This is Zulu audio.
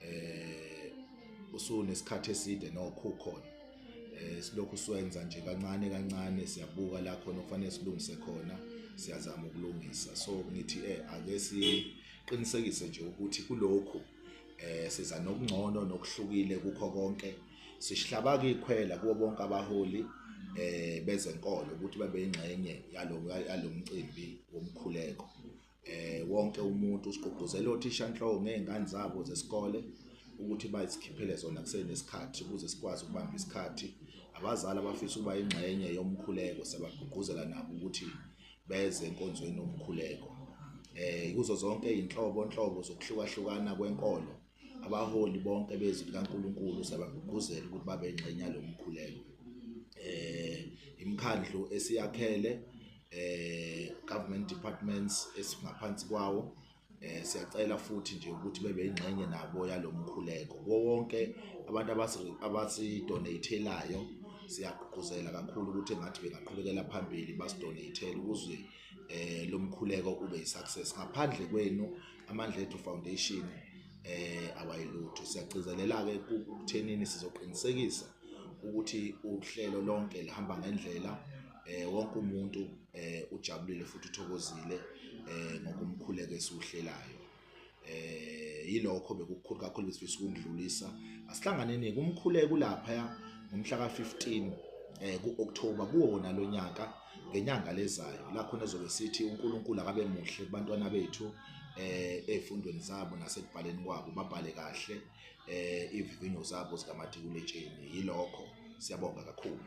eh usunesikhathi eside nokho khona eh silokhu siwenza nje kancane kancane siyabuka la khona okufanele silungise khona siyazama ukulungisa so ngithi eh ake siqinisekise nje ukuthi kulokhu eh siza nokungcono nokuhlukile kukho konke sisihlabaka ikhwela kubo bonke abaholi eh bezenkolo ukuthi babe ingxenye yalo yalomcimbi womkhuleko eh wonke umuntu usigqugquzela othishanhloko ngezingane zabo zesikole ukuthi bazikhiphele zona kusenesikhathi ukuze sikwazi ukubamba isikhathi abazali abafisa ukuba ingxenye yomkhuleko sebagqugquzela nabo ukuthi beze enkonzweni yomkhuleko eh kuzo zonke izinhlobo nhlobo zokuhlukahlukana kwenkolo abaholi bonke bezwi likaNkulunkulu sabagqugquzela ukuthi babe ingxenye yalo mkhuleko eh imkhandlu esiyakhele eh government departments esingaphansi kwawo eh siyacela futhi nje ukuthi bebe ingxenye nabo yalomkhuleko wonke abantu abasi abasi donatelayo siyagqugquzela kakhulu ukuthi ngathi bengaqhubekela phambili basidonatele ukuze eh lomkhuleko ube yisuccess ngaphandle kwenu amandla ethu foundation eh awayilutho siyagcizelela ke ukuthenini sizoqinisekisa ukuthi uhlelo lonke lihamba ngendlela eh wonke umuntu eh ujabulile futhi uthokozile eh ngokumkhuleka esiwuhlelayo eh yilokho bekukhulu kakhulu besifisa ukudlulisa asihlanganeni kumkhuleko lapha ngomhla ka 15 eh ku October kuwona lonyaka ngenyanga lezayo la khona ezobe sithi uNkulunkulu akabe muhle kubantwana bethu eh ezifundweni zabo nasekubhaleni kwabo babhale kahle eh ivivinyo zabo zikamatikuletsheni yilokho siyabonga kakhulu